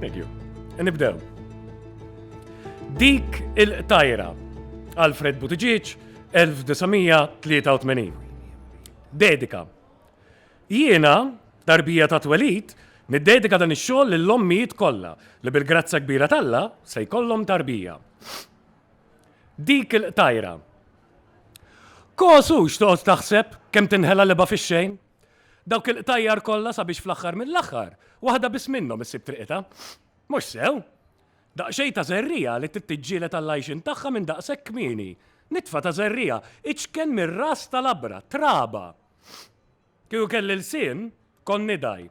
Thank you. Nibdew. Dik il-tajra Alfred Buttigieg 1983. Dedika. Jiena, tarbija ta' twelid, niddedika dan ix-xogħol lill-ommijiet kollha li bil-grazza kbira talla se jkollhom tarbija. Dik il-tajra Kosu, x'toqgħod taħseb kemm tinħela libgħa fix-xejn? Dawk il-qtajjar kollha sabiex fl-aħħar mill-aħħar waħda biss minnhom issib triqitha. Mhux sew! Daqsxejn ta' żerriegħa li trid tiġġieled għall-għajxien tagħha minn daqshekk kmieni. Nitfa ta' żerriegħa, iċken mir-ras ta' labra, traba! Kieku kelli lsien, kont nidgħi.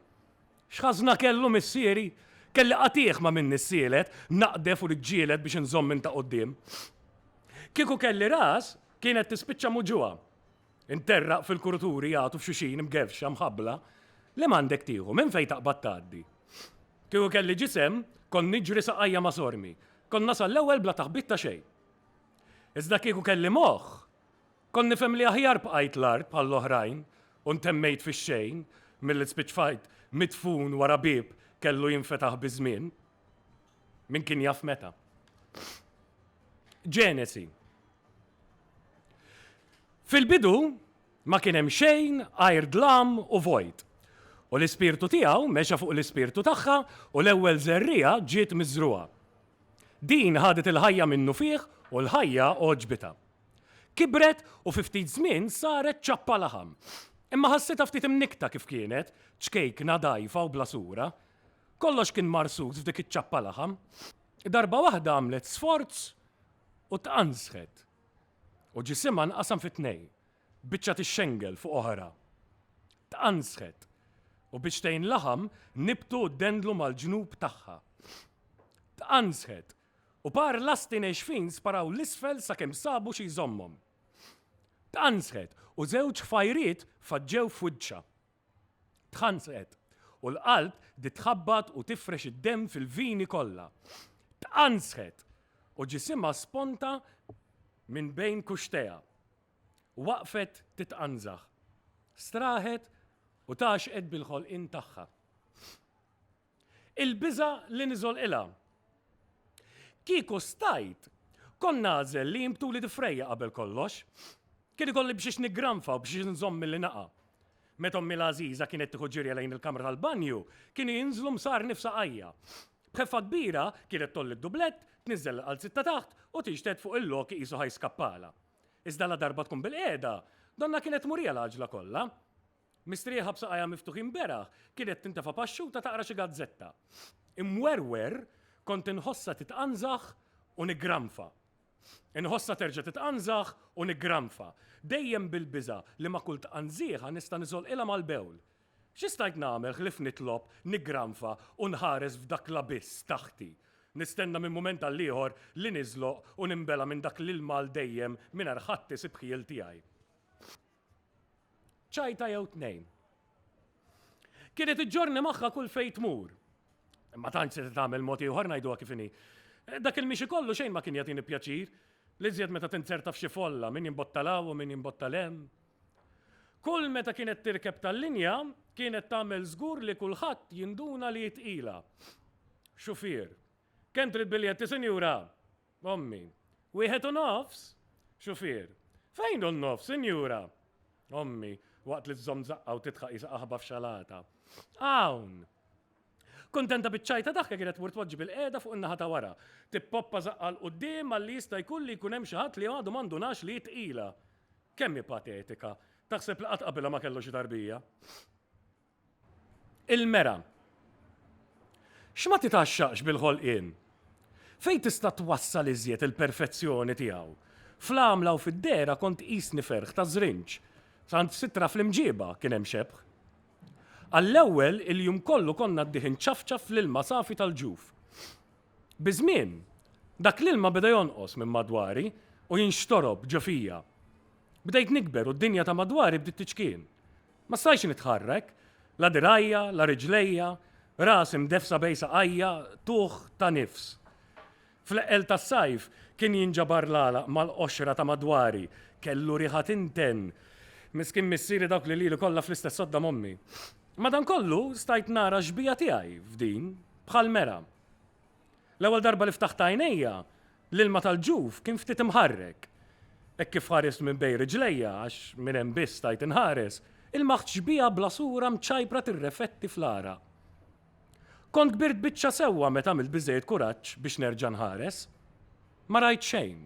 X'ħażna kellu missieri? Kelli qatiegħ ma' minni ssielet, naqdef u niġġieled biex inżomm minn ta' quddiem. Kieku kelli ras, kienet tispiċċa muġugħa. Interraq fil-kuruturi jagħtu f'xuxin mgevxa, mħabbla. Li m'għandek tieħu, minn fejn taqbad tgħaddi. Kieku kelli ġisem, kont niġri saqajja ma' sormi. Kont nasal l-ewwel bla taħbit ta' xejn. Iżda kieku kelli moħħ, Kont nifhem li aħjar bqajt l-art bħall-oħrajn u ntemmejt fix-xejn milli spiċċajt midfun wara bieb kellu jinfetaħ biż-żmien. Min kien jaf meta. Ġenesi. Fil-bidu ma kien hemm xejn għajr dlam u vojt, u l-Ispirtu tiegħu mexa fuq l-Ispirtu tagħha u l-ewwel żerriegħa ġiet miżrugħa. Din ħadet il-ħajja minnufih u l-ħajja għoġbitha. Kibret u fi ftit żmien saret ċappa laħam. Imma ħassitha ftit imnikkta kif kienet, ċkejkna, dgħajfa u bla sura. Kollox kien marsus f'dik iċ-ċappa laħam. Darba waħda għamlet sforz u tqanżħet. U ġisimha nqasam fi tnejn, biċċa tixxengel fuq oħra. Tqanżħet. U biċtejn laħam nibtu u ddendlu mal-ġnub tagħha. Tqanżħet. U par lasti nexfin sparaw 'l isfel sakemm sabu xi jżommhom. Tqanżħet u żewġ ħfajriet faġġew f'wiċċha. Tħansqet, u l-qalb bdiet tħabbat u tifrex id-demm fil-vini kollha. Tqanżħet, u ġisimha sponta minn bejn kuxxtejha. Waqfet titqanżaħ. Straħet u tgħaxxqet bil-ħolqien tagħha. Il-biża' li niżolqilha. Kieku stajt, kont nagħżel li jinbtuli difrejja qabel kollox. Kien ikolli b'xiex niggranfa u b'xiex inżomm milli naqa'. Meta ommi l-għażiża kienet tieħu ġirja lejn il-kamra tal-banju, kienu jinżlu msarni f'saqajja. B'ħeffa kbira, kienet tgħolli d-dublett, tniżżel il-qalziet ta' taħt u tixted fuq il-lok iqisu ħa jiskappalha. Iżda ladarba tkun bilqiegħda, donnha kienet tmurija l-għaġla kollha. Mistrieħa b'saqajha miftuħin beraħ kienet tintefa' paxxuta taqra xi gazzetta. Imwerwer kont inħossha titqanżaħ u niggranfa. Inħossha terġa' titqanżaħ u niggranfa, dejjem bil-biża' li ma' kull tqanżiegħa nista' niżolqilha mal-bewl. Xi stajt nagħmel ħlief nitlob, niggranfa u nħares f'dak l-abiss taħti, nistenna minn mument għall-ieħor li niżloq u ninbela' minn dak l-ilma għal dejjem mingħajr ħadd isib ħjiel tiegħi. Ċajta jew tnejn. Kienet iġġorni magħha kull fejn tmur. Ma tantx se tagħmel mod ieħor ngħiduha kif inhi. Dak il-mixi kollu xejn ma kien jagħtini pjaċir, l-iżjed meta tinzerta f'xi folla, min jimbotta 'l hawn u min jimbotta 'l hemm. Kull meta kienet tirkeb tal-linja, kienet tagħmel żgur li kulħadd jinduna li hi tqila. Xufier. Kemm trid biljetti, sinjura? Ommi, Wieħed u nofs? Xufier, Fejn hu n-nofs, sinjura? Ommi, waqt li żżomm żaqqha u tidħaq qisha qaħba f'xalata, Hawn! Kuntenta biċ-ċajta daħka kienet tmur tpoġġi bilqiegħda fuq in-naħa ta' wara, tippoppa żaqqha 'l quddiem malli jista' jkun li jkun hemm xi ħadd li għadu ma ndunax li hi tqila. Kemm hi patetika! Taħseb li qatt qabilha ma kellu xi tarbija. Il-mera. X'ma titgħaxxaqx bil-ħolqien? Fejn tista' twassal iżjed il-perfezzjoni tiegħu? Fl-għamla u fid-dehra kont tqisni ferħ ta' żrinġ. Saħansitra fl-imġieba kien hemm xebħ. Għall-ewwel, il-jum kollu kont ngħaddih inċafċaf fl-ilma safi tal-ġuf. Biż-żmien, dak l-ilma beda jonqos minn madwari u jinxtorob ġo fija. Bdejt nikber u d-dinja ta' madwari bdiet tiċkien. Ma stajtx nitħarrek, la dirgħajja, la riġlejja, rasi mdeffsa bejn saqajja, tuħ ta' nifs. Fl-eqqel tas-sajf kien jinġabar l-għalaq mal-qoxra ta' madwari, kellu riħa tinten. Miskin missieri dawk li lili kollha fl-istess sodda m'ommi. Madankollu stajt nara x-xbieha tiegħi f'din, bħall-mera. L-ewwel darba li ftaħt għajnejja, l-ilma tal-ġuf kien ftit imħarrek. Hekk kif ħarist minn bejn riġlejja, għax minn hemm biss stajt inħares, ilmaħt xbieha bla sura mċajpra tirrefetti fl-għaraq. Kont kbirt biċċa sewwa meta għamilt biżżejjed kuraġġ biex nerġa' nħares. Ma rajt xejn.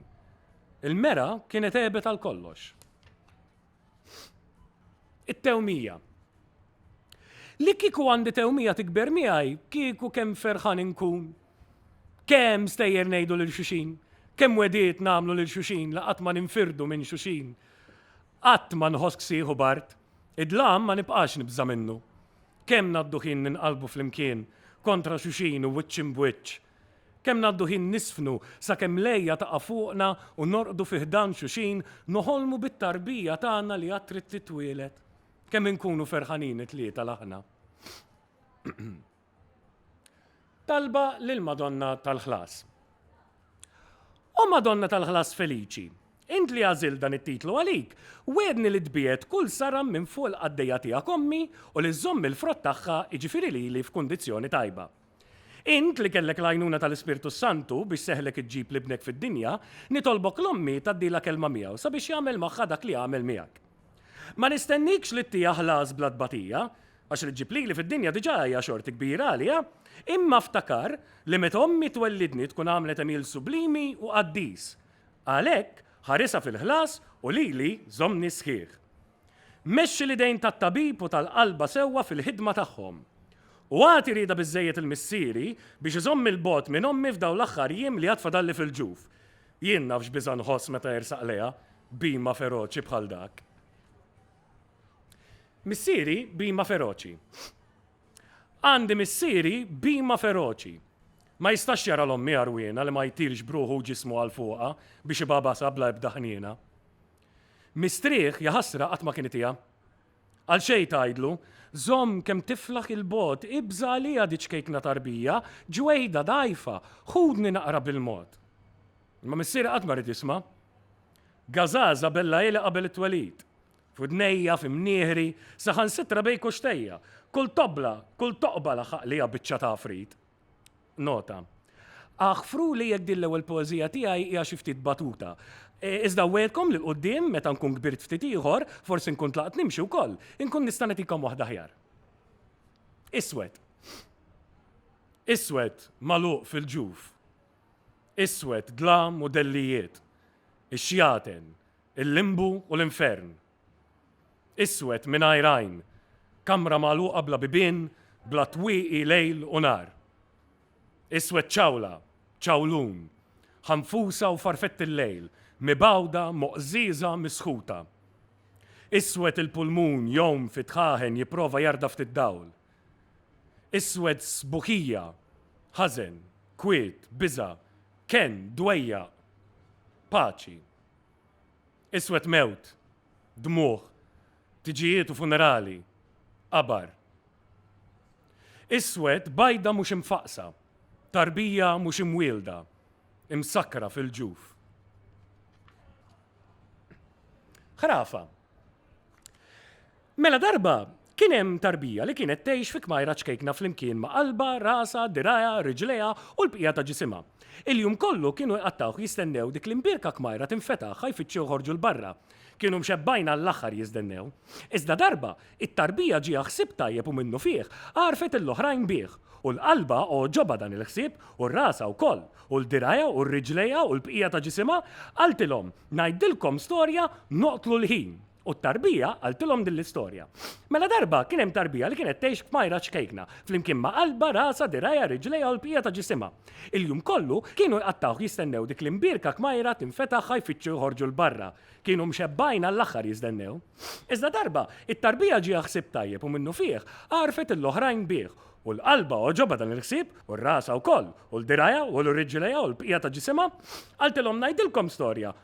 Il-mera kienet għebet għal kollox. It-tewmija. Li kieku għandi tewmija tikber miegħi, kieku kemm ferħan inkun. Kemm stejjer ngħidu lil xuxin, kemm wegħdiet nagħmlu lil xuxin li qatt ma ninfirdu minn xuxin. Qatt ma nħoss ksieħ u bard. Id-dlam ma nibqax nibża' minnu. Kemm ngħaddu ħin ninqalbu flimkien kontra xuxin u wiċċ imb'wiċċ. Kemm ngħaddu ħin niżfnu sakemm l-għeja taqa' fuqna u norqdu fi ħdan xuxin noħolmu bit-tarbija tagħna li għad trid titwieled. Kemm inkunu ferħanin it-tlieta l-aħna. Talba lill-Madonna tal-Ħlas. O Madonna tal-Ħlas feliċi, int li għażilt dan it-titlu għalik, wiegħdni li tbiegħed kull saram minn fuq il-qaddejja tiegħek ommi u li żżomm il-frott tagħha, jiġifieri lili f'kundizzjoni tajba. Int li kellek l-għajnuna tal-Ispirtu s-Santu biex seħħlek iġġib l-ibnek fid-dinja, nitolbok l-ommi tgħaddilha kelma miegħu sabiex jagħmel magħha dak li għamel miegħek. Ma nistennikx li ttiha ħlas bla tbatija, għax li ġġib lili fid-dinja diġà hija xorti kbira għaliha, imma ftakar li meta ommi twellidni tkun għamlet għemil sublimi u qaddis. Għalhekk, ħarisha fil-ħlas u lili żommni sħiħ. Mexxi l-idejn tat-tabib u tal-qalba sewwa fil-ħidma tagħhom. U agħti rieda biżżejjed lil missieri biex iżommni 'l bogħod minn ommi f'dawn l-aħħar jiem li għad fadalli fil-ġuf. Jien naf x'biża' nħoss meta ersaq lejha bhima feroċi bħal dak. Missieri bhima feroċi. Għandi missieri bhima feroċi. Ma jistax jara 'l ommi għarwiena li ma jtirx b'ruħu u ġismu għal fuqha biex ibagħbasha bla ebda ħniena. Mistrieħ, jaħasra, qatt ma kien itiha. Għal xejn tgħidlu, Żomm kemm tiflaħ 'il bogħod, ibża' għaliha di ċkejkna tarbija, ġwejda, dgħajfa, ħudni naqra bil-mod. Imma missieri qatt ma ried jisma'. Gażaża bellagħilha qabel it-twelid. F'widnejja, f'imnieħri, saħansitra bejn kuxtejja. Kull tobla, kull toqba laħaq liha biċċa t'għafrit. Nota. Aħfru li jekk din l-ewwel poeżija tiegħi hija xi ftit batuta. E, iżda wegħedkom li l-qudiem meta nkun kbirt ftit ieħor, forsi nkun tlaqt nimxi wkoll, inkun nista' nagħtikom waħda aħjar. Iswed. Iswed magħluq fil-ġuf. Iswed dlam u dellijiet. Ix-xjaten, il-limbu u l-infern. Iswed mingħajr għajn. Kamra magħluqa bla bibien, bla twieqi lejl u nhar. Iswed ċawla, ċawlun. Ħanfusa u farfetti l-lejl, mibgħuda, moqżieża, misħuta. Iswed il-pulmun jgħum fi dħaħen jipprova jarda ftit dawl. Iswed sbuħija, ħażen, kwiet, biża', kenn, dwejjaq. Paċi. Iswed mewt, dmugħ, tiġijiet u funerali, qabar. Iswed bajda mhux imfaqqsa, tarbija mhux imwielda, imsakkra fil-ġuf. Ħrafa. Mela darba, kien hemm tarbija li kienet tgħix fi kmajra ċkejkna flimkien ma' qalbha, rasha, dirgħajha, riġlejha u l-bqija ta' ġisimha. Il-jum kollu kienu jqattgħuh jistennew dik l-imbierka kmajra tinfetaħ ħa jfittxu joħorġu 'l barra. Kienu mxebbgħin għall-aħħar jiżdennew. Iżda darba, it-tarbija ġieha ħsieb tajjeb u minnufih għarfet il-oħrajn bih. U l-qalbha għoġobha dan il-ħsieb u rasha wkoll, u l-dirgħajha u r-riġlejha u l-bqija ta' ġisimha, qaltilhom, Ngħidilkom storja, noqtlu l-ħin. U t-tarbija għaltilhom din l-istorja. Mela darba kien hemm tarbija li kienet tgħix f'majra ċkejkna, flimkien ma' qalba, rasa, dirajja, riġlejha u l-bqija ta' ġisimha. Il-jum kollu kienu jqattgħuh jistennew dik l-imbierka kmajra tinfetaħ ħa jfittxu joħorġu 'l barra. Kienu mxebbgħin għall-aħħar jiżdennew. Iżda darba, it-tarbija ġieha ħsieb tajjeb u minnufih għarfet lill-oħrajn bih. U 'l qalba għoġobha dan il-ħsieb, u r-rasa wkoll, u 'l dirajha, u 'l riġlejha u l-bqija ta' ġisimha. Qaltilhom ngħidilkom storja.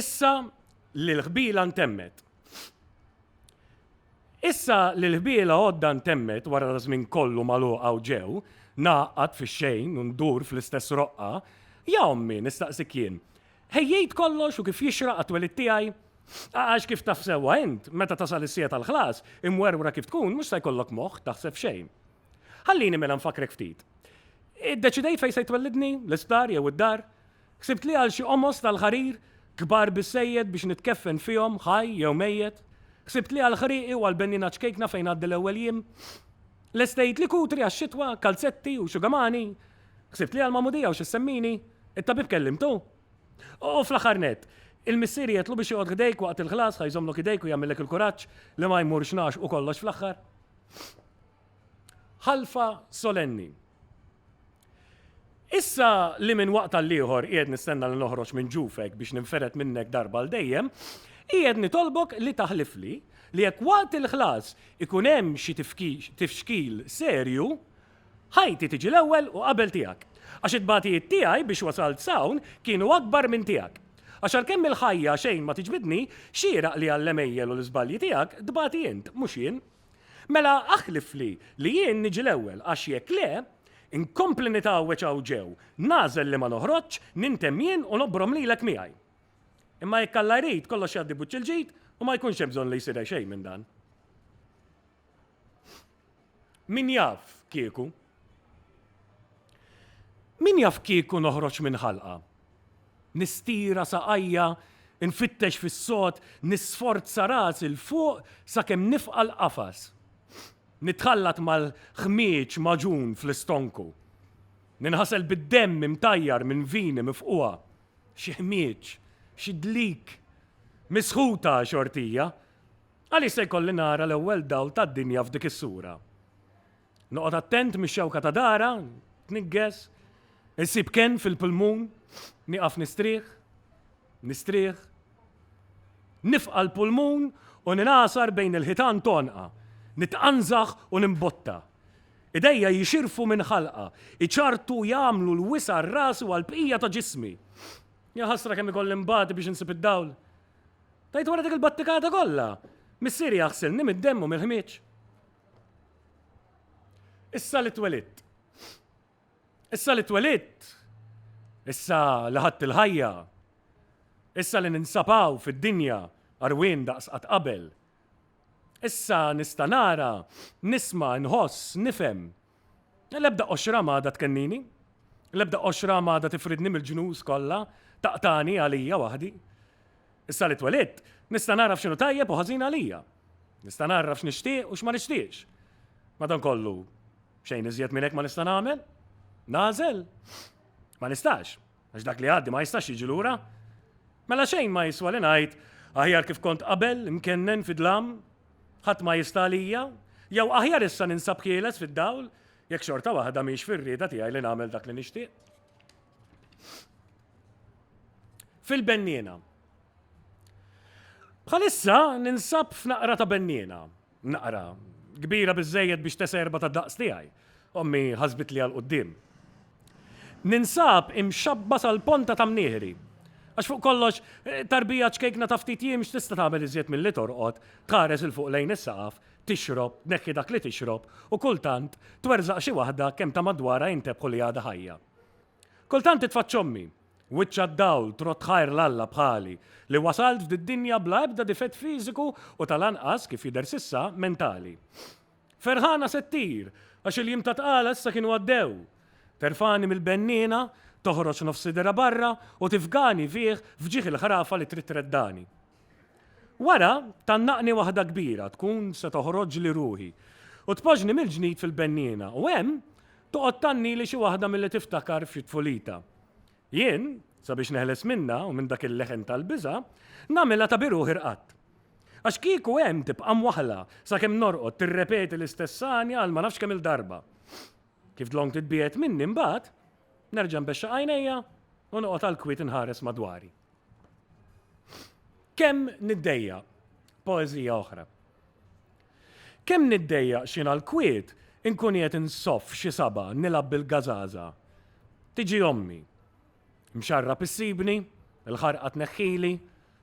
Issa li l-ħbila ntemmet. Issa li l-ħbila għodda ntemmet wara da żmien kollu maluqa u ġew, naqgħad fix-xejn u ndur fl-istess roqqa, ja ommi nistaqsik jien, ħejjejt kollox u kif jixraq għat-twelid tiegħi? Għax kif taf sewwa int, meta tasal is-siegħa tal-ħlas, imwerwra kif tkun mhux se jkollok moħħ taħseb f'xejn. Ħallini mela nfakkrek ftit. Iddeċidejt fejn se jtwellidni, l-isptar jew id-dar? Ħsibt li għal xi qomos tal-ħarir, kbar biżżejjed biex nitkeffen fihom, ħaj jew mejjet? Ħsibt li għall-ħrieqi u għall-benniena ċkejkna fejn ngħaddi l-ewwel jiem? Lestejt li kutri għax-xitwa, kalzetti u xugamani? Ħsibt li għall-magħmudija u xi ssemmini? It-tabib kellimtu? U fl-aħħar nett, il-missier jgħidlu biex joqgħod ħdejk waqt il-ħlas ħa jżommlok idejk u jagħmillek il-kuraġġ li ma jmurx ngħax u kollox fl-aħħar? Ħalfa solenni. Issa li minn waqt għall-ieħor qiegħed nistenna li noħroġ minn ġufek biex ninferet minnek darba l dejjem, qiegħed nitolbok li taħlifli li jekk waqt il-ħlas ikun hemm xi tifxkil serju, Ħajti tiġi l-ewwel u qabel tiegħek. Għax it-tbatijiet tiegħi biex wasalt s'hawn kienu akbar minn tiegħek. Għax għalkemm il-ħajja xejn ma tiġbidni, xieraq li għall-għemejjel u l-iżbalji tiegħek tbati int, mhux jien. Mela aħlifli li jien niġi l-ewwel, għax jekk le, inkompli nitgħawweġ hawn ġew, nagħżel li ma noħroġx, nintemm jien u nobrom lilek miegħi. Imma jekk Alla jrid, kollox jgħaddi buċċ il-ġid u ma jkunx hemm bżonn li jsir xejn minn dan. Min jaf kieku? Min jaf kieku noħroġ minn ħalqa? Nistira saqajja, infittex fis-sod, nisforza rasi 'l fuq sakemm nifqa' l-qafas. Nitħallat mal-ħmieġ magħġun fl-istonku. Ninħasel bid-demm imtajjar minn vini mifqugħa. Xi ħmieġ, xi dlik! Misħuta xortija! Għaliex se jkolli nara l-ewwel dawl tad-dinja f'dik is-sura? Noqgħod attent mix-xewka ta' dara, tniggeż, insib kenn fil-pulmun, nieqaf nistrieħ, nistrieħ, nifqa' l-pulmun u ningħasar bejn il-ħitan t'għonqha, nitqanżaħ u nimbotta. Idejja jixirfu minn ħalqha, iċarrtu u jagħmlu l-wisa' għal rasi u għall-bqija ta' ġismi. Jaħasra kemm ikolli nbati biex insib id-dawl! Tajt wara dik il-battikata kollha. Missieri jaħsilni mid-demm u mill-ħmieġ. Issa li twelitt. Issa li twelitt. Issa li ħadd il-ħajja. Issa li ninsapaw fid-dinja arwin daqs qatt qabel. Issa nista' nara, nisma', nħoss, nifhem, L-ebda qoxra m'għadha tkennini, l-ebda qoxra m'għadha tifridni mill-ġnus kollha, taqtagħni għalija waħdi. Issa li twelidt, nista' nagħraf x'inhu tajjeb u ħażin għalija. Nista' ngħarraf x'nixtieq u x'ma nixtieqx. Madankollu, xejn iżjed minn hekk ma nista' nagħmel. Nagħżel? Ma nistax. Għax dak li għaddi ma jistax jiġi lura. Mela xejn ma jiswa li ngħid aħjar kif kont qabel imkennen fi dlam, ħadd ma jista' għalija, jew aħjar issa ninsab ħieles fid-dawl jekk xorta waħda mhix fir-rieda tiegħi li nagħmel dak li nixtieq. Fil-benniena. Bħalissa ninsab f'naqra ta' benniena. Naqra kbira biżżejjed biex tesa' erba' tad-daqs tiegħi. Ommi ħasbitli għal quddiem. Ninsab imxabba' sal-ponta ta' mnieħri. Għax fuq kollox, tarbija ċkejkna ta' ftit jiem x'tista' tagħmel iżjed milli torqod, tħares 'il fuq lejn is-saqaf, tixrob, tneħħi dak li tixrob u kultant twerżaq xi waħda kemm ta' madwarha jintebħu li għadha ħajja. Kultant titfaċċa ommi, wiċċha d-dawl, trodd tħajr 'l Alla bħali, li wasalt f'did-dinja bla ebda difett fiżiku u tal-anqas, kif jidher s'issa, mentali. Ferħana se ttir, għax il-jiem ta' tqala issa kienu għaddew. Terfagħni mill-benniena, toħroġ nofs sidirha barra u tifgani fih f'ġieħ il-ħrafa li trid treddani. Wara, tgħannaqni waħda kbira, tkun se toħroġli ruħi, u tpoġġni mill-ġnid fil-benniena, u hemm, toqgħod tgħannili xi waħda milli tiftakar f'xi tfulita. Jien, sabiex neħles minnha u minn dak il-leħen tal-biża', nagħmilha ta' bi ruħi rqadt. Għax kieku hemm tibqa' mwaħħla sakemm norqod tirrepeti l-istess għanja għal ma nafx kemm-il darba. Kif dlonk titbiegħed minni mbagħad, nerġa' nbexxaq għajnejja u noqgħod għall-kwiet inħares madwari. Kemm niddejja poeżija oħra. Kemm niddejja xina l-kwiet inkun qiegħed insoff xi saba' nilgħab bil-gażaża. Tiġi ommi. Mxarrab issibni, il-ħarqa tneħħili,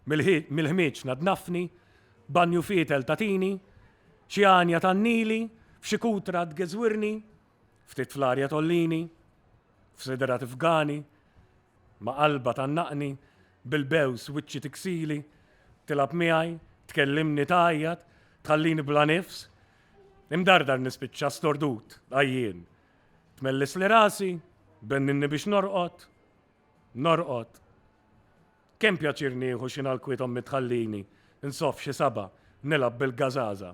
mill-ħmieġ tnaddnafni, banju fietel tagħtini, xi għanja tgħannili, f'xi kutra tgeżwirni, Ftit fl-arja tgħollini, f'sidra tifgani, ma' qalba tgħannaqni, bil-bews wiċċi tiksili, tilgħab miegħi, tkellimni tgħajjat, tħallini bla nifs. Imdardar nispiċċa stordut, għajjien. Tmellisli rasi, benninni biex norqod, norqod. Kemm pjaċir nieħu xi nalkwiet ommi tħallini, nsoff xi saba', nilgħab bil-gażaża.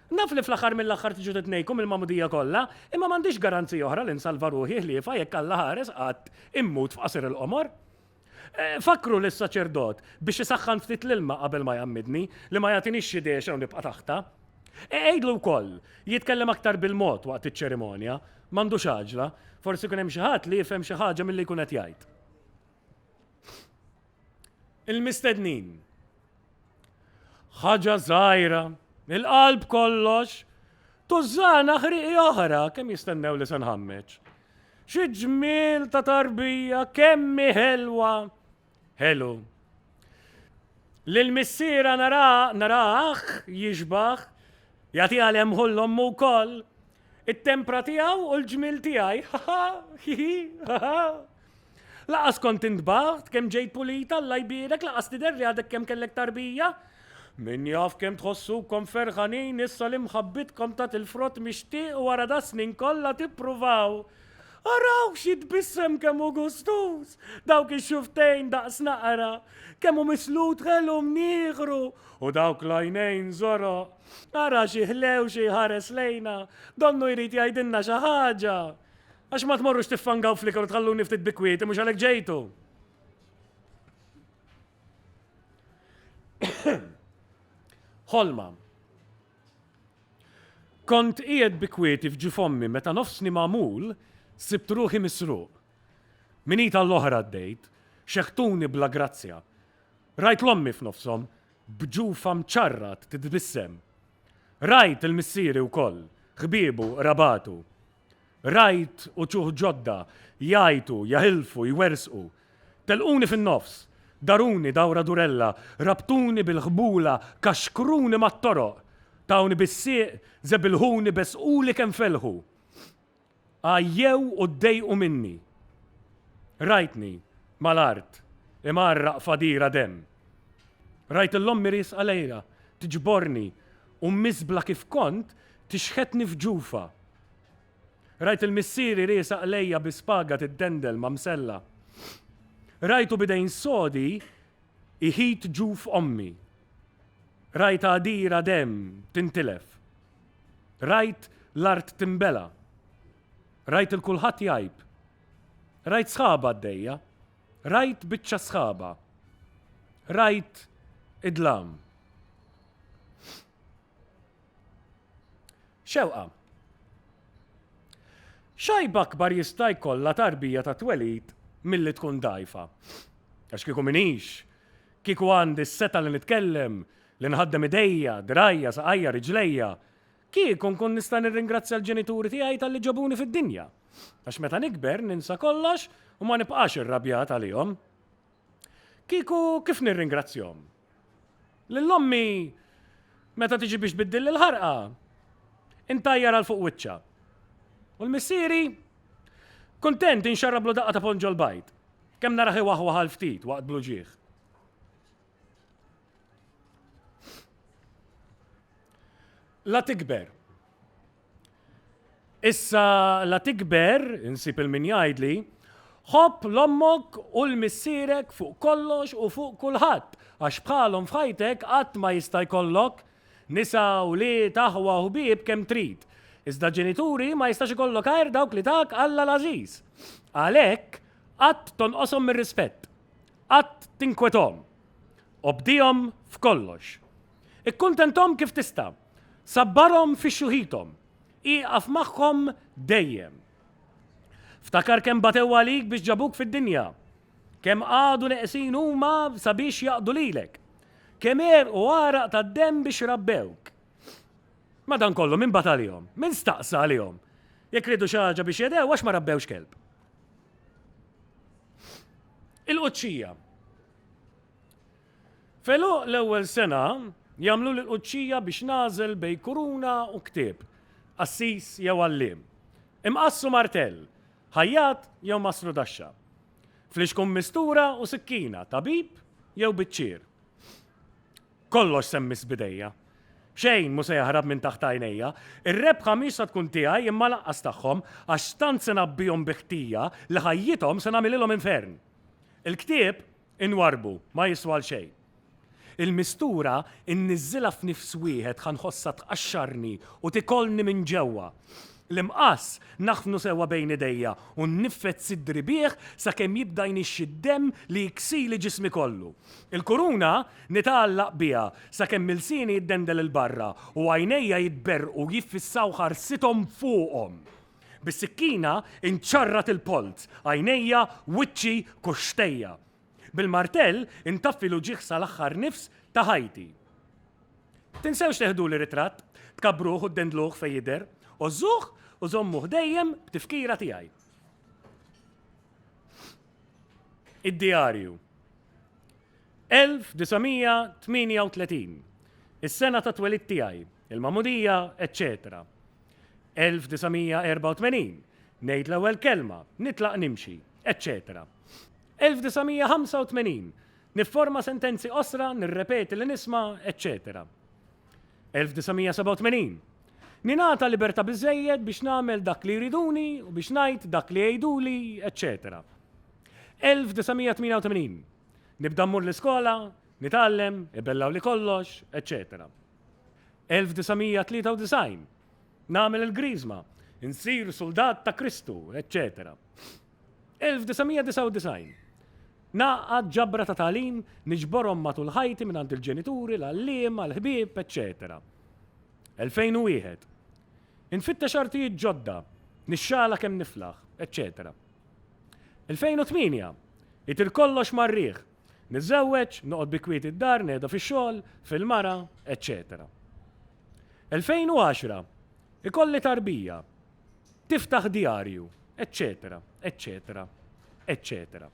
Naf li fl-aħħar mill-aħħar tiġu titnejkum il-magħmudija kollha, imma m'għandix garanzija oħra li nsalva ruħi ħliefha jekk Alla ħares qatt immut f'qasir il-qomor. Fakkru lis-saċerdot biex isaħħan ftit l-ilma qabel ma jgħammidni, li ma jagħtinix xi dehxa u nibqa' taħtha. Għidlu wkoll jitkellem aktar bil-mod waqt iċ-ċerimonja, m'għandux għaġla, forsi jkun hemm xi ħadd li jifhem xi ħaġa milli jkun qed jgħid. Il-mistednin. Ħaġa żgħira, il-qalb kollox, tużżana ħriqi oħra kemm jistennew li se nħammeġ. Xi ġmiel ta' tarbija kemm ħelwa. Ħelu. Lil missiera nara naraħ jixbaħ jagħti għal hemm ħollhom wkoll it-tempra tiegħu u l-ġmiel tiegħi. Laqas kont intbaħt kemm ġejt pulit Alla jbierek laqas tidher li għadek kemm kellek tarbija. Min jaf kemm tħossukom ferħanin issa li mħabbitkom tat il-frott mixtieq wara das-snin kollha tippruvaw. Arawh x'jitbissem kemm hu gustuż! Dawk ix-xufftejn daqs naqra! Kemm hu mislut ħelu mnieħru! U dawk l-għajnejn żoroq! Ara xi ħlewxi jħares lejna! Donnu jrid jgħidilna xi ħaġa! Għax ma tmorrux tiffangaw fl-ikel u tħalluni ftit bi kwieti mhux għalhekk ġejtu. Ħolma. Kont qiegħed bi kwieti f'ġi fommi meta nofsni magħmul sibt ruħi misruq. Minita l-oħra għaddejt, xeħtuni bla grazzja. Rajt l-ommi f'nofshom b'ġufa mċarrat titbissem. Rajt il-missieri wkoll, ħbiebu, rabatu. Rajt uċuħ ġodda jgħajtu, jaħilfu, jwerżqu. Telquni fin-nofs. Daruni dawra durella, rabtuni bil-ħbula, kaxkruni mat-toroq. Tawni bis-sieq, żebilħuni, beżquli kemm felħu. Għajjew u ddejqu minni. Rajtni, mal-art, imgħarraq f'għadira demm. Rajt 'l ommi riesqa lejha, tiġborni, U mmiżbla kif kont, tixħetni f'ġufa. Rajt lil missieri riesaq lejja bi spaga tiddendel ma' msella. Rajtu b'idejn sodi jħit ġuf ommi. Rajt għadira demm tintilef. Rajt l-art tinbela'. Rajt 'il kulħadd jgħib. Rajt sħab għaddejja. Rajt biċċa sħaba. Rajt id-dlam. Xewqa. X'għajb akbar jista' jkollha tarbija ta' twelid milli tkun dgħajfa? Għax kieku m'iniex, kieku għandi s-setgħa li nitkellem, li nħaddem idejja, dirgħajja, saqajja, riġlejja, Kieku nkun nista' nirringrazzja l-ġenituri tiegħi talli ġabuni fid-dinja. Għax meta nikber ninsa kollox u ma nibqax irrabjat għalihom. Kieku kif nirringrazzjahom? Lil ommi meta tiġi biex tbiddilli l-ħarqa intajjar għal fuq wiċċha. U l-missieri? Kuntent inxarrablu daqqa ta' ponġol bajd. Kemm narah iwaħwaħ għal ftit waqt bluġieħ. La tikber. Issa la tikber, insib il-min jgħidli, ħobb l-ommok u l-missierek fuq kollox u fuq kulħadd, għax bħalhom f'ħajtek qatt ma jista' jkollok nisa, wlied, aħwa u ħbieb kemm trid. Iżda ġenituri ma jistax ikollok għajr dawk li tak Alla l-għażiż. Għalhekk, qatt tonqoshom mir-rispett. Qatt tinkwethom. Obdihom f'kollox. Ikkuntenthom kif tista'. Sabbarhom fi xjuħithom. Ieqaf magħhom dejjem. Ftakar kemm batew għalik biex ġabuk fid-dinja. Kemm qagħdu neqsin huma sabiex jaqdu lilek. Kemm għerqu għaraq tad-demm biex rabbewk. Madankollu, min bata għalihom? Min staqsa għalihom? Jekk riedu xi ħaġa biex jedew għax ma rabbewx kelb. Il-quċċija. Felu l-ewwel sena jagħmlu l-quċċija biex nażel bej kuruna u ktieb, qassis jew għalliem. Imqassu martell, ħajjat jew masru daxxa. Flixkum mistura u sikkina, tabib jew biċċier. Kollox se mmiss b'idejja. Xejn mhu se jaħrab minn taħt għajnejja. Ir-rebħa mhix se tkun tiegħi imma lanqas tagħhom, għax tant se ngħabbihom bi ħtija li ħajjithom se nagħmililhom infern. Il-ktieb inwarrbu, ma jiswa għal xejn. Il-mistura nniżżilha f'nifs wieħed ħa nħossha tqaxxarni u tikolni minn ġewwa. L-imqass naħfnu sewwa bejn idejja u nniffed siddri bih sakemm jibda jnixxi d-demm li jiksili ġismi kollu. Il-kuruna nitgħallaq biha sakemm ilsieni jiddendel 'il barra u għajnejja jitberrqu jiffissaw ħarsithom fuqhom. Bis-sikkina nċarrat il-polz, għajnejja, wiċċi, kuxxtejja. Bil-martell intaffi l-uġigħ sal-aħħar nifs ta' ħajti. Tinsewx teħduli ritratt, tkabbruh u ddendluh fejn jidher, għożżuh u żommuh dejjem b'tifkira tiegħi. Id-djarju. 1938. Is-sena ta' twelid tiegħi, il-magħmudija, eċċetera. 1984. Ngħid l-ewwel kelma, nitlaq nimxi, eċċetera. 1985, Nifforma sentenzi qosra, nirrepeti li nisma', eċċetera. 1987, Ningħata libertà biżżejjed biex nagħmel dak li jriduni u biex ngħid dak li jgħiduli, eċċetera. 1988, Nibda mmur l-iskola, nitgħallem, ibellgħuli kollox, eċċetera. 1993, Nagħmel il-Griżma, insir suldat ta' Kristu, eċċetera. 1999. Ngħaqqad ġabra ta' tagħlim, niġborhom matul ħajti mingħand il-ġenituri, l-għalliema, l-ħbieb, eċċetera 2001. Infittex artijiet ġodda, nixxala kemm niflaħ, eċċetera 2008. Itir kollox mar-riħ, niżżewweġ, noqgħod bi kwieti d-dar, nehda fix-xogħol, fil-mara, eċċetera 2010. Ikolli tarbija. Tiftaħ djarju, eċċetera, eċċetera, eċċetera.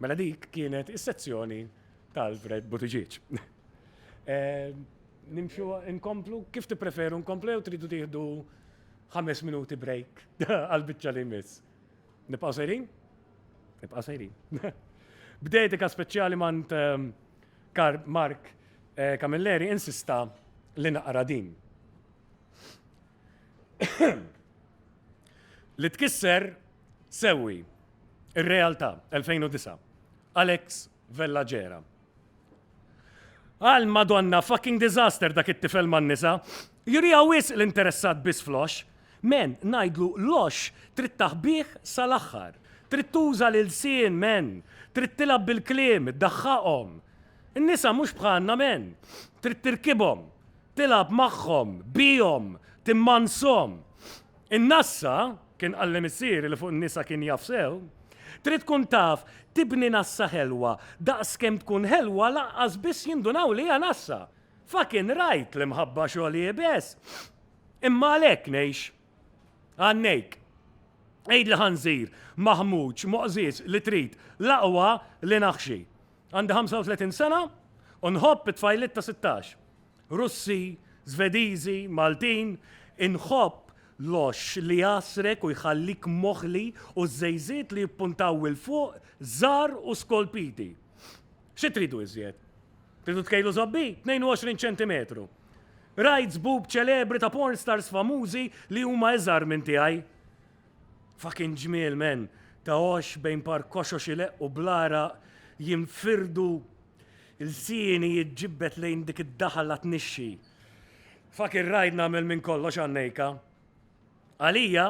Mela dik kienet is-sezzjoni tal-Fred Buttigieg. Eh, nimxu nkomplu, kif tippreferu nkomplu jew tridu tieħdu ħames minuti break għal-biċċa li jmiss. Nibqgħu sejrin? Nibqgħu sejrin. B'dedika speċjali mant ehm, Karl Mark Camilleri insista li naqra din, li tkisser sewwi r-realtà, 2009, Alex Vella Gera. Għal Madonna fucking disaster dak it-tifel man-nisa. Juriha wisq li interessat biss fl-għoxx. Men, ngħidlu l-għoxx trid taħbih sal-aħħar. Trid tuża l-ilsien, men. Trid tilgħab bil-kliem, iddaħħaqhom. In-nisa mhux bħalna, men. Trid tirkibhom. Tilgħab magħhom, bihom, timmanshom. In-nassa, kien qalli missieri li fuq in-nisa kien jaf sew, trid tkun taf tibni nassa ħelwa, daqs kemm tkun ħelwa lanqas biss jindunaw li hija nassa. Fucking right, l-imħabba xogħol iebes. Imma għalhekk ngħix. Ghannejk. Għidli ħanżir, maħmuġ, moqżież li trid, l-aqwa li naħxi. Għandi 35 sena u nħobb it-tfajliet ta' sittax. Russi, Żvediżi, Maltin, inħobb l-għoxx li jgħassrek u jħallik moħli u ż-żejżiet li jippuntaw 'il fuq żgħar u skolpiti. Xi tridu iżjed? Tridu tkejlu żobbie? 22 ċentimetru. Rajt żbub ċelebri ta' porn stars famużi li huma iżgħar minn tiegħi. Fucking ġmiel men, ta' għoxx bejn par koxox ileqqu bl-għaraq jinfirdu lsieni jiġġibbed lejn dik id-daħla tnixxi. Fucking ride nagħmel minn kollox għan-nejka. Għalija,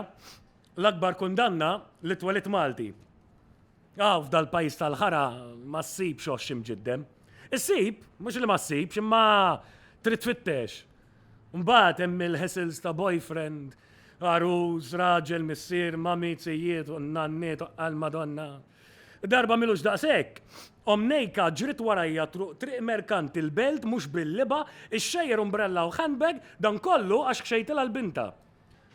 l-akbar kundanna li twelidt Malti. Hawn f'dal-pajjiż tal-ħara ma ssibx għoxx imġiddem. Issib, mhux li ma ssibx, imma trid tfittex. Mbagħad hemm il-hassles ta' boyfriend, għarus, raġel, missier, mami, zijiet, u n-nanniet, għall-Madonna. Darba m'ilux daqshekk, omm Nejka ġriet warajja truq Triq Merkanti l-Belt mhux bil-libgħa, ixxejjer umbrella u handbag, dan kollu għax ħxejtilha l-bintha.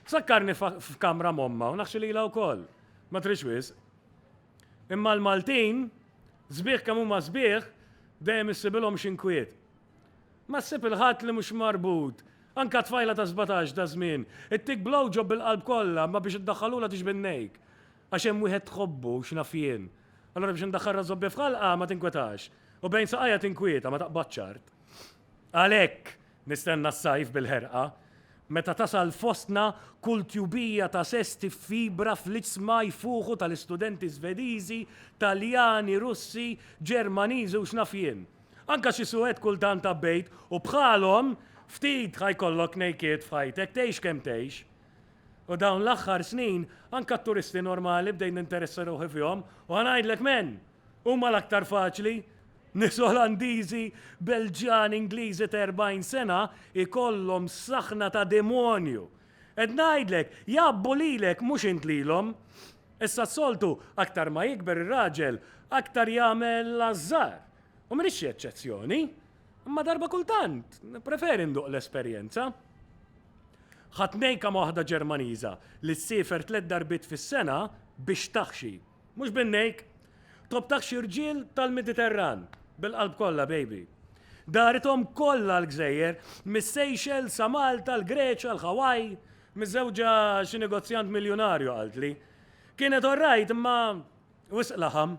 Tfakkarni f'kamra m'ommha u naħxi lilha wkoll. Ma tridx wisq. Imma l-Maltin, sbieħ kemm huma sbieħ, dejjem issibilhom xi nkwiet. Ma ssib il-ħadd li mhux marbut. Anke tfajla ta' sbatax daż-żmien, ittik blowjob bil-qalb kollha imma biex iddaħħalulha tiġbed nejk. Għax hemm wieħed tħobbu, x'naf jien. Allura biex indaħħalha żobbja f'ħalqha ma tinkwetax. U bejn saqajha tinkwieta, ma taqbadx art. Għalhekk nistenna s-sajf bil-ħerqa, meta tasal fostna kull tjubija ta' sess tiffibra fl-iċsma jfuħu tal-istudenti Svediżi, Taljani, Russi, Ġermaniżi u x'naf jien. Anke xi Suwed kultant għabbejt u bħalhom ftit ħa jkollok nejkiet f'ħajtek, tgħix kemm tgħix. U dawn l-aħħar snin anke t-turisti normali bdejt ninteressa ruħi fihom u ħa ngħidlek m'en! Huma l-aktar faċli! Nies Olandiżi, Belġjani, Ingliżi ta' 40 sena jkollhom saħna ta' demonju. Qed ngħidlek, jgħabbu lilek mhux int lilhom. Issa s-soltu, aktar ma jikber ir-raġel, aktar jagħmel l-ażżar. U m'iniex xi eċċezzjoni. Imma darba kultant, nippreferi nduq l-esperjenza. Ħadt nejka ma' waħda Ġermaniża li ssiefer tliet darbiet fis-sena biex taħxi. Mhux b'għinejk. Tobtak xi rġiel tal-Mediterran. Bil-qalb kollha, baby. Darithom kollha l-gżejjer, mis-Seychelles sa Malta, l-Greċja, l-Hawaii. Miżżewġa xi negozjant miljunarju, qaltli. Kienet all right imma wisq laħam.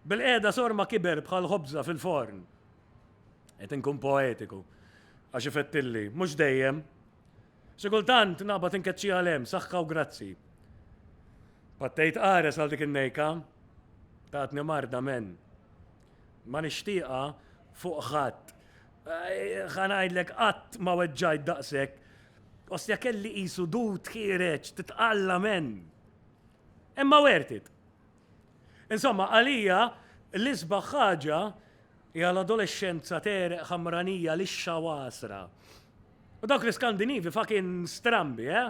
Bil-qiegħda sorma kiber bħal ħobża fil-forn. Qed inkun poetiku. Għax ifettilli. Mhux dejjem. Xi kultant naqbad inkeċċiha 'l hemm, saħħa u grazzi. Pattejt qares għal dik in-nejka, tatni marda men. Ma nixtieqha fuq ħadd. Ħa ngħidlek qatt ma weġġajt daqshekk. Ostja kelli qisu dut ħiereġ titqalla men. Imma wertit. Insomma, għalija, l-isbaħ ħaġa hija l-adolexxenza tegħreq ħamranija lixxa u għasra. U dawk l-Iskandinivi fakin strambi, eh?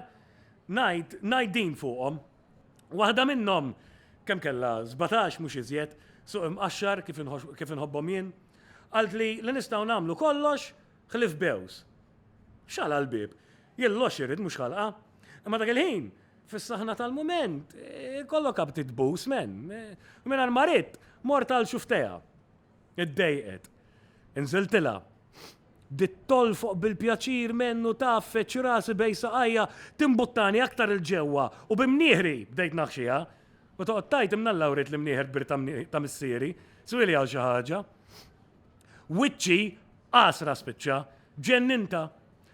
Ngħid, ngħid din fuqhom. Waħda minnhom kemm kellha 17 mhux iżjed, suq imqaxxar kif inħobbhom jien, qalt li li nistgħu nagħmlu kollox ħlif bews. Xala l-bieb, jien l-għoxx irid mhux ħalqa. Imma dak il-ħin Fis-saħna tal-mument, ikollok abti tbus, men. U mingħajr ma ridt, mort għal xufteha. Iddejqet. Inżiltilha. Bdiet tolfoq bil-pjaċir, men, u taf, feġġ rasi bejn saqajja, timbuttani aktar 'il ġewwa, u bi mnieħri bdejt naħxiha. U toqgħod tgħid, 'Imnalla wriet l-imnieħer kbir ta' missieri. Swieli hawn xi ħaġa. Wiċċi għasra spiċċa. Ġenninta.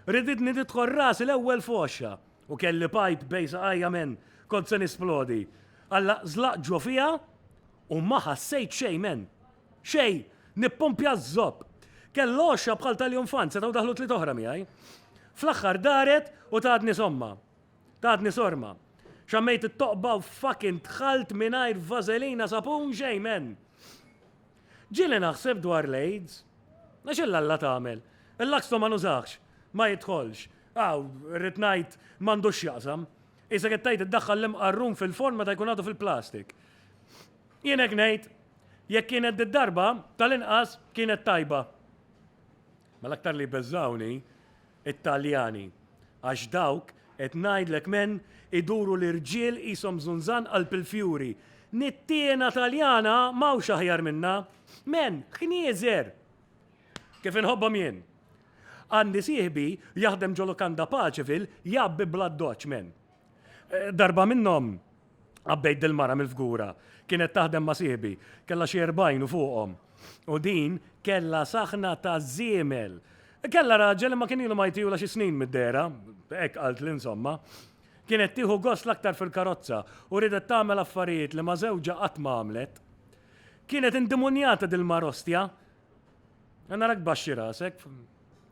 Riditni nidħol rasi l-ewwel f'għoxha. U kelli pajp bejn saqajja men, kont se nisplodi. Alla zlaq ġo fija u ma ħassejt xejn men. Xejn! Nippumpja ż-zopp. Kellu għoxxa bħal tal-junfant, setgħu daħlu tliet oħra miegħi. Fl-aħħar daret u tatni somma. Tatni sorma. Xammejt it-toqba u fucking dħalt mingħajr vażelina, sapun, xejn men. Ġieli naħseb dwar l-AIDS. Għax illa Alla tagħmel. Il-Laxto ma nużahx. Ma jidħolx. Aw, irrid ngħid, m'għandux x'jaqsam. Qisek qed tgħid iddaħħal l-imqarrun fil-forn meta jkun għadu fil-plastik. Jien hekk ngħid. Jekk kienet did-darba, tal-inqas, kienet tajba. Ma l-aktar li jbeżżgħuni, It-Taljani, għax dawk, qed ngħidlek m'en, iduru l-irġiel qishom żunżan qalb il-fjuri. Nittiena Taljana m'hawnx aħjar minnha. M'en, knieżer! Kif inħobbhom jien! Għandi sieħbi jaħdem ġo Lukanda Paceville jgħabbi bl-addoċċ, m'en. Darba minnhom qabbejt dil-mara mill-fgura. Kienet taħdem ma' sieħbi. Kellha xi erbgħin u fuqhom. U din kellha saħna ta' żiemel. Kellha raġel imma kien ilu ma jtihulha xi snin mid-dehra, hekk qaltli insomma. Kienet tieħu gost l-aktar fil-karozza u riedet tagħmel affarijiet li ma' żewġha qatt ma għamlet. Kienet indimunjata dil-mara ostja. Narak tbaxxi rasek.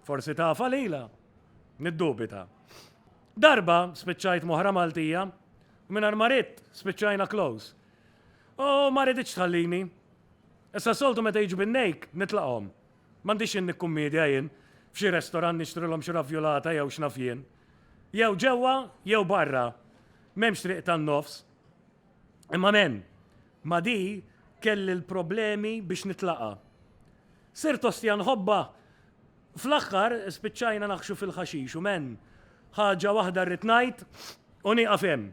Forsi tafha lilha? Niddubita. Darba spiċċajt m'oħra Maltija u mingħajr ma ridt spiċċajna close. U ma riditx tħallini. Issa soltu meta jiġu bin-nejk nitlaqhom. M'għandix x'inhi kkummiedja jien, f'xi restorant nixtrilhom xi ravjulata jew x'naf jien. Jew ġewwa jew barra. M'hemmx triq tan-nofs. Imma men, ma di kelli l-problemi biex nitlaqa. Sirt ostja nħobba. Fl-aħħar spiċċajna naħxu fil-ħaxix u men, ħaġa waħda rrid ngħid u nieqaf hemm.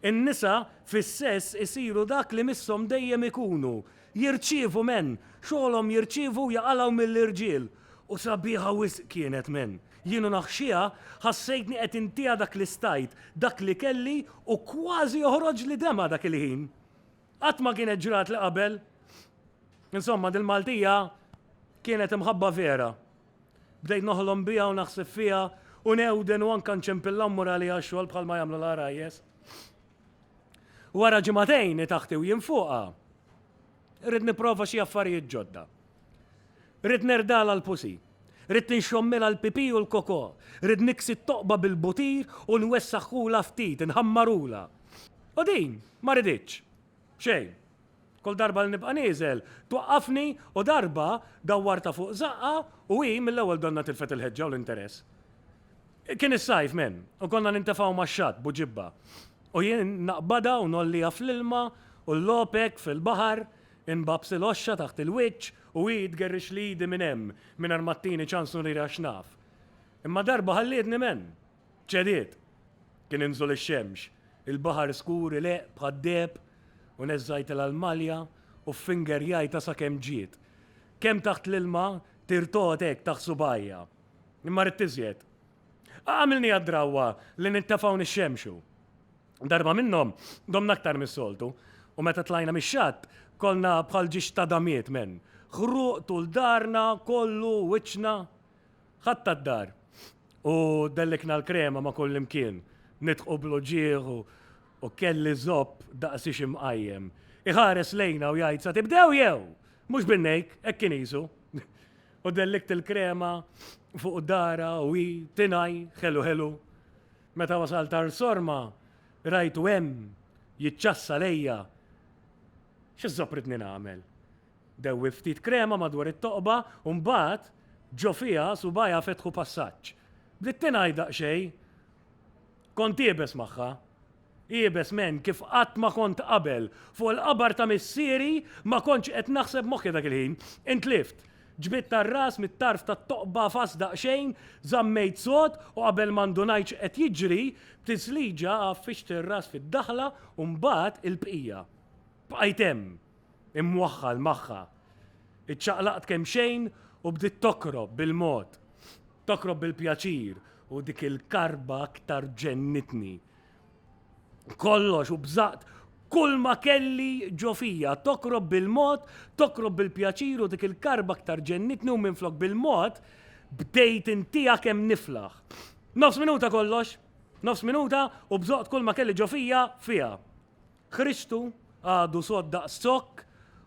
In-nisa fis-sess isiru dak li misshom dejjem ikunu, Jirċievu men! Xogħolhom jirċievu u jaqalgħu mill-irġiel! U sabiħa wisq kienet men! Jien u naħxiha ħassejtni qed intiha dak li stajt, dak li kelli u kważi joħroġli demgħa dak il-ħin. Qatt ma kienet ġratli qabel. Insomma, dil-Maltija kienet imħabba vera. Bdejt noħlom biha u naħseb fiha u newden u anke nċempillha u mmur għaliha x-xogħol bħalma jagħmlu l-għarajjes. Wara ġimagħtejn taħti u jien fuqha, rrid nipprova xi affarijiet ġodda. Rrid nerdala l-pusi. Rrid ninxommilha l-pipì u l-kokò. Rrid niksi t-toqba bil-butir u nwessaħħulha ftit, inħammarulha. U din ma riditx. Xejn. Kull darba li nibqa' nieżel, twaqqafni u darba dawwartha fuq żaqqha u hi mill-ewwel donnha tilfet il-ħeġġa u l-interess. Kien is-sajf, men, u konna nintefgħu max-xatt b'u ġibba u jien naqbadha u ngħolliha fl-ilma u llopek fil-baħar, inbabs il-għoxxa taħt il-wiċċ u hi tgerrixli idi minn hemm mingħajr ma ttini ċans nurira x'naf. Imma darba ħallietni, men! Ċediet. Kien inżol ix-xemx. Il-baħar skur ileqq bħad-deheb u neżżajtilha l-malja u ffingerjajtha sakemm ġiet. Kemm taħt l-ilma tir togħod hekk taħt subgħajja. Imma ridt iżjed. Għamilniha d-drawwa li nintefgħu nixxemxu. Darba minnhom domna aktar mis-soltu u meta tlajna mix-xatt kollna bħal ġiex ta' damiet, menn. Ħruq tul darna kollu u wiċċna. Ħadtha d-dar u dellikna l-krema ma' kullimkien, nidħqu bl-uġigħ u kelli zopp daqsi xi mqajjem. Iħares lejna u jgħid sa tibdew jew? Mhux bin-nejk, hekk kien qisu. U dellikt il-krema fuq darha u hi tingħi ħelu ħelu. Meta wasalt Għar Sorma rajtu hemm jiċċassa lejja. Xi zopp ridni nagħmel? Dewwi ftit krema madwar it-toqba u mbagħad ġo fiha subgħajha fetħu passaġġ. Bdiet tingħi daqsxejn. Kont iebes magħha. Iebes menn kif qatt ma kont qabel. Fuq il-qabar ta' missieri ma kontx qed naħseb moħħi dak il-ħin. Intlift. Ġbidt ar-ras mit-tarf tat-toqba fast daqsxejn, żammejt sod u qabel ma ndunajt x'qed jiġri, b'tisliġa għaffixt ir-ras fid-daħla u mbagħad il-bqija. Bqajt hemm. imwaħħal magħha. Iċċaqlaqt kemxejn u bdiet tokrob bil-mod. Tokrob bil-pjaċir u dik il-karba aktar ġennitni. Kollox u bżaqt kull ma kelli ġo fija, tokrob bil-mod, tokrob bil-pjaċir u dik il-karba aktar ġennitni u minflok bil-mod, bdejt intija kemm niflaħ. Nofs minuta kollox, nofs minuta u bżaqt kull ma kelli ġo fija fija. Kristu għadu sod daqs zokk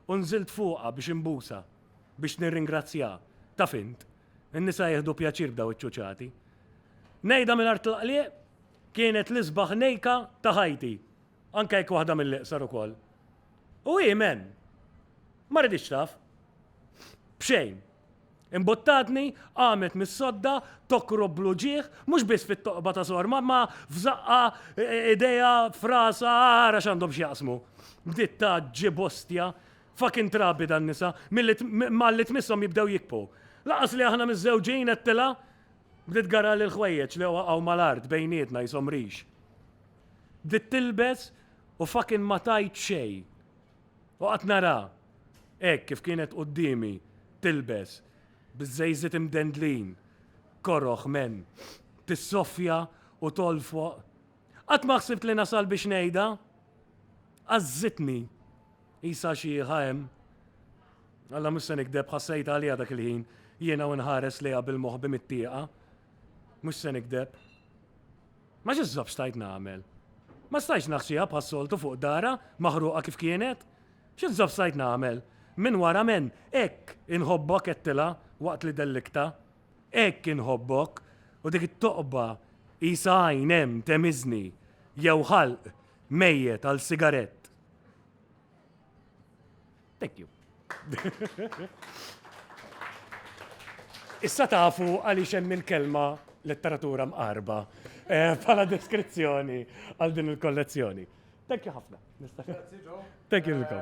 u nżilt fuqha biex inbusa, biex nirringrazzjah. Taf int, in-nisa jieħdu pjaċir b'daw iċ-ċuċati. Ngħidha mingħajr tlaqliq, kienet l-isbaħ nejka ta' ħajti, anke jekk waħda mill-iqsar ukoll. U hi, men? Ma riditx taf. B'xejn. Imbuttatni, qamet mis-sodda, tokrob bl-uġigħ, mhux biss fit-toqba ta' Sor Mamma, f'żaqqa, idejha, f'rasha, ara x'għandhom x'jaqsmu. Bdiet tgħaġġi b'ostja. Fuckin' trabi dan-nisa, malli tmisshom jibdew jikbħu. Lanqas li aħna miżżewġin, għedtilha. Bdiet tgarrali l-ħwejjeġ li waqgħu mal-art bejnietna qishom rix. Bdiet tilbes u fuckin' ma tgħid xejn. U qgħadt nara, hekk kif kienet quddiemi, tilbes, biż-żejżiet imdendlin, koroh, men, tissoffja u tgħoll fuq. Qatt ma ħsibt li nasal biex ngħidha. Għażżitni. Qisha xi ħa hemm. Alla mhux se nikdeb ħassejtha għaliha dak il-ħin, jiena u nħares lejha bil-moħħ bi mittieqa. Mhux se nikdeb. Ma x'isħab stajt nagħmel? Ma stajtx naħxiha bħas-soltu fuq darha maħruqa kif kienet? X'insab stajt nagħmel? Minn wara men, hekk inħobbok għedtilha waqt li delliktha. Hekk inħobbok! U dik it-toqba qisha għajn hemm temiżni jew ħalq mejjet għal sigarett. Thank you. Issa tafu għaliex hemm il-kelma letteratura mqarba eh, bħala deskrizzjoni għal din il-kollezzjoni. Thank you ħafna. Thank you, Luka.